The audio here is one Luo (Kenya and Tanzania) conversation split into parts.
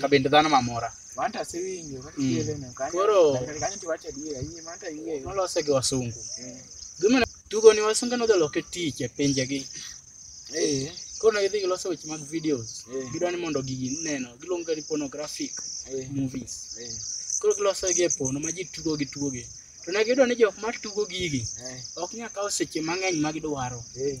ka bende dhano mamora Manta asewinjo kaka Mm. tiele no kanyo. Koro Kare kanyo tiwacho adiera, iye manta iye. nolose gi wasungu Eh. gimana tugo ni wasungu nodholoke tich e pinjegi Eh. koro negidhi giloso weche mag videos Eh. gidwa ni mondo gigi neno giluongo ni pornographic Eh. movies Eh. koro giloso gi e pono ma ji tugo gi tugo gi to ne giyudo ni jok ma tugo gigi Eh. ok nyal kawo seche mang'eny ma gidwaro Eh.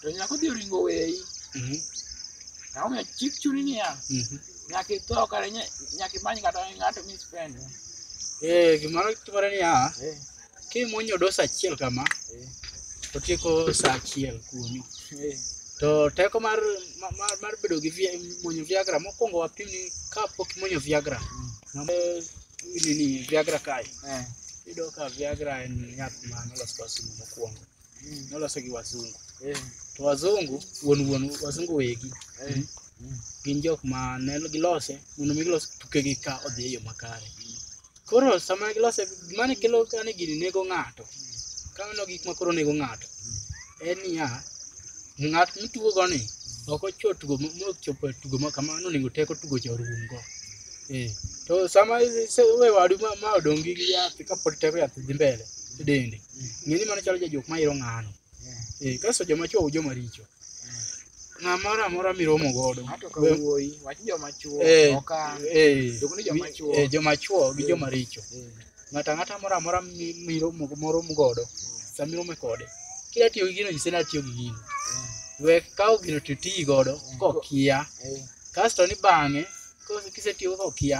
to nyako dhi oringo weyi Mhm. ang'o miyo chik chuni niya Mhm. nyaka itho kata nya- nyaka imany kata ng'ato mispend Eh, gimoro timore niya Eh, kimuonyo dos achiel kama eh, to tieko sa achiel kuomi eh, to teko mar ma- mar, mar bedo gi via, muonyo viagra mokwongo wapim ni ka pok imuonyo viagra Mm. ng'ama nini viagra kae eh. iyudo ka viagra en yath ma nolos kwa simu mokwongo nolose gi wazungu Eh, to wazungu wuon wuon wazungu wegi eh, gin jok ma ne gilose mondo mi gilos tukegi ka odhi e yo makare koro sama gilose mane kelo kane gini nego ng'ato kamano gik ma koro nego ng'ato en niya ng'at mitugogo ni ok ocho tugo ma- ma ochopo e tugo ma kamano onego teko tugo cha orumgo Eh, to sama ise- we wadu ma, ma odong' gi yath kapod teko yath dhi mbele e dende ng'e ni mano chalo jajok ma iro ng'ano eh, kasto joma chwo u joma richo ng'a moro amora miromo godo Ng'ato ka we- wuoyi, wach joma chwo, eh, okang', eh, jok ni joma chwo. eh, joma chwo gi joma richo Eh, ng'ato ang'ata moro amora mi- miromo moro godo sama irome kode kidwa tiyo gi gino nyise ni atiyo gi gino we kawo gino to iti godo kokia eh, kasto ni bang'e kose- kisetiyo kokia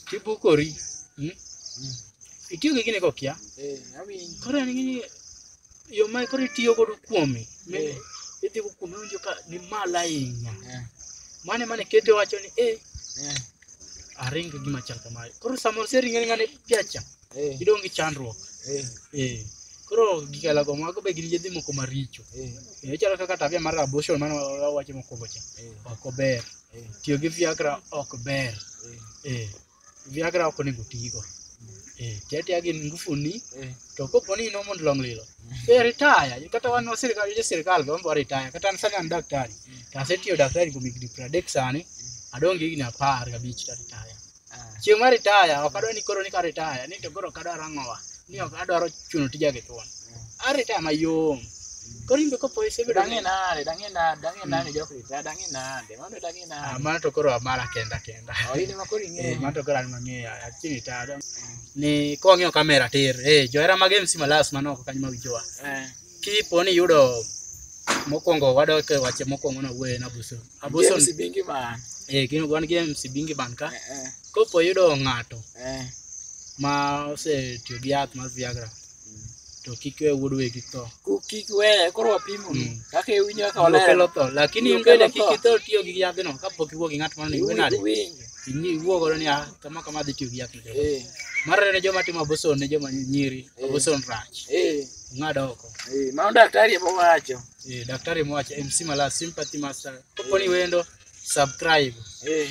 Kibukori. Mm? Itiyo gi gini kokia. Eh, awinjo. Koro en gini yo ma koro itiyo godo kuome. mi- Eh. Idhi go kuome winjo ka ni malo ahinya. Eh, Mane mane kete wacho ni eh eh, aring gi gima chal kamae. Koro samoro sering'eni ng'ane piacha. eh, Idong' gi chandruok. eh, Eh. Koro gikala go mago be gin yedhi moko maricho. eh, Eh, chalo kaka tabia mar abortion mane wa- wawacho mokwongo cha. eh. Ok ober. Eh. Tiyo gi Viagra ok ber. Eh. Eh. Viagra ok onego tigo. Eh. Tiyo tiyo gi ngufuni. Eh. To kopo ni ino mond long lilo. Mm. Eh, retire. Kata wan wa sirkal, jo sirkal go mbo retire. Kata an sani an daktari. Mm. Kase tiyo daktari go migni pradek sani. Mm. Adong gi gini apar gabich ta retire. chieng' ma ritaya ok adwa ni koro ni ka ritaya ni to koro ok adwar ang'owa ni ok adwaro chuno tija gi thuon aritaya mayom koro in be kopo isebedo Dang'e nade, dang'e nade, dang'e nade jok ritaya, dang'e nade, mano dang'e Ah, nade. mano to koro amara kenda kenda Oh, in ema koro Eh, ing'eyo. mano to koro an mang'eyo achini ritaya dong- ni kwang'iyo kamera tir eh, johera mag mc malas mano ok kanyo mawijowa Eh. kipo ni yudo mokwongo wadok e wache mokwongo na wuoye na buso Aboson. James Bingi man. Eh, gin wan gi MC Bingi man ka. Eh, eh, Kopo yudo ng'ato eh. ma osetiyo gi yath mar Viagra Mm. to kik we wuod wegi tho. Ku- Kik weye koro wapimo ni Mm. kaka iwinjo kaka Biro kelo olero. tho. Lakini Biro in bende kelo kik tho. itho tiyo gi yadhno kapok iwuo gi ng'at moro ni iwe nade. Iwinjo. Inyi iwuo godo ni ah, kama kama adhi tiyo gi yath. ni. Eh, Mar ariyo ne joma timo aboson ne joma nyiri. Eh. Aboson rach. eh, Ng'ad oko. eh. Mano daktari ema wacho. eh, daktari mwache mc mala sympathy master koponi wendo subscribe eh.